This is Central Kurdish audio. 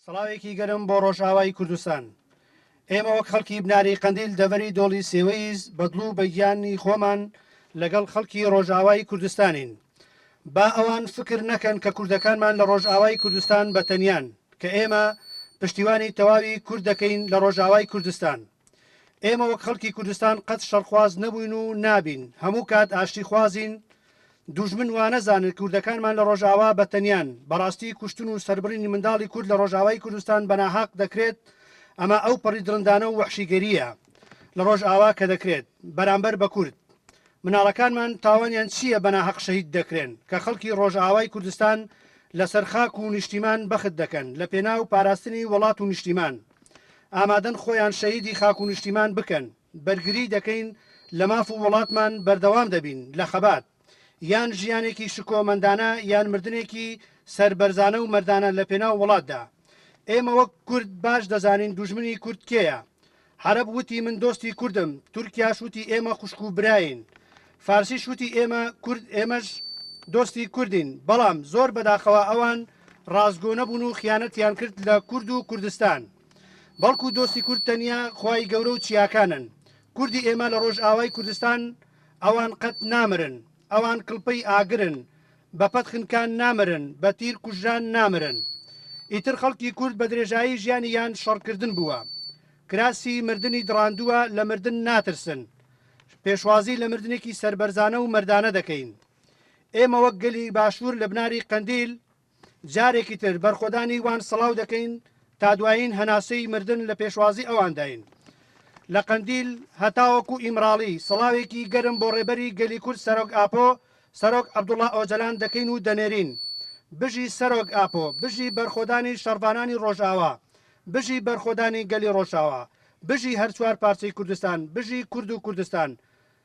سڵاوێکی گەرم بۆ ڕۆژئاوای کوردستان. ئێمە وەک خەڵکی بناری قەندیل دەڤەری دۆڵی سێوەییز بە دڵ و بە گیانی خۆمان لەگەڵ خەڵکی ڕۆژئاوای کوردستانین. با ئەوان فکر نەکەن کە کوردەکانمان لە ڕۆژئاوای کوردستان بە تەنیان، کە ئێمە پشتیوانی تەواوی کورد دەکەین لە ڕۆژئاوای کوردستان. ئێمە وەک خەڵکی کوردستان قەت شەڕخواز نەبووین و نابین، هەموو کات ئاشتیخوازین، دوژمن وانەزانن کوردەکانمان لە ڕۆژئاوا بە تەنیان، بەڕاستی کوشتن و سەربڕینی منداڵی کورد لە ڕۆژئاوای کوردستان بە ناهەق دەکرێت، ئەمە ئەو پەڕی دڕندانە و وەحشیگەرییە لە ڕۆژئاوا کە دەکرێت بەرامبەر بە کورد. مناڵەکانمان تاوانیان چییە بە ناهەق شەهید دەکرێن کە خەڵکی ڕۆژئاوای کوردستان لە سەر خاک و نیشتیمان بەخت دەکەن لە پێناو پاراستنی وڵات و نیشتیمان ئامادەن خۆیان شەهیدی خاک و نیشتیمان بکەن. بەرگری دەکەین لە ماف و وڵاتمان بەردەوام دەبین لە خەبات یان ژیانێکی شکۆمەندانە یان مردنێکی سەربەرزانە و مەردانە لە پێناو وڵاتدا ئێمە وەک کورد باش دەزانین دوژمنی کورد کێیە عەرەب وتی من دۆستی کوردم تورکیاش وتی ئێمە خوشک و براین فارسیش وتی ئێمە کورد ئێمەش دۆستی کوردین بەڵام زۆر بەداخەوە ئەوان ڕاستگۆ نەبوون و خیانەتیان کرد لە کورد و کوردستان بەڵکو دۆستی کورد تەنیا خوای گەورە و چیاکانن کوردی ئێمە لە ڕۆژئاوای کوردستان ئەوان قەت نامرن ئەوان کڵپەی ئاگرن بە پەت خنکان نامرن بە تیر کوژران نامرن ئیتر خەڵکی کورد بە درێژایی ژیانی یان شەڕکردن بووە کراسی مردنی دڕاندووە لە مردن ناترسن پێشوازی لە مردنێکی سربەرزانە و مردانە دەکەین ئێمە وەک گەلی باشوور لە بناری قەندیل جارێکی تر بەرخۆدانی وان سڵاو دەکەین تا دوایین هەناسەی مردن لە پێشوازی ئەوانداین لە قەندیل هەتاوەکو ئیمراڵی سڵاوێکی گەرم بۆ ڕێبەری گەلی کورد سەرۆک ئاپۆ سەرۆک عەبدوڵا ئۆجەلان دەکەین و دەنێرین بژی سەرۆک ئاپۆ بژی بەرخۆدانی شەڕڤانانی ڕۆژئاوا بژی بەرخۆدانی گەلی ڕۆژئاوا بژی هەر چوار پارچەی کوردستان بژی کورد و کوردستان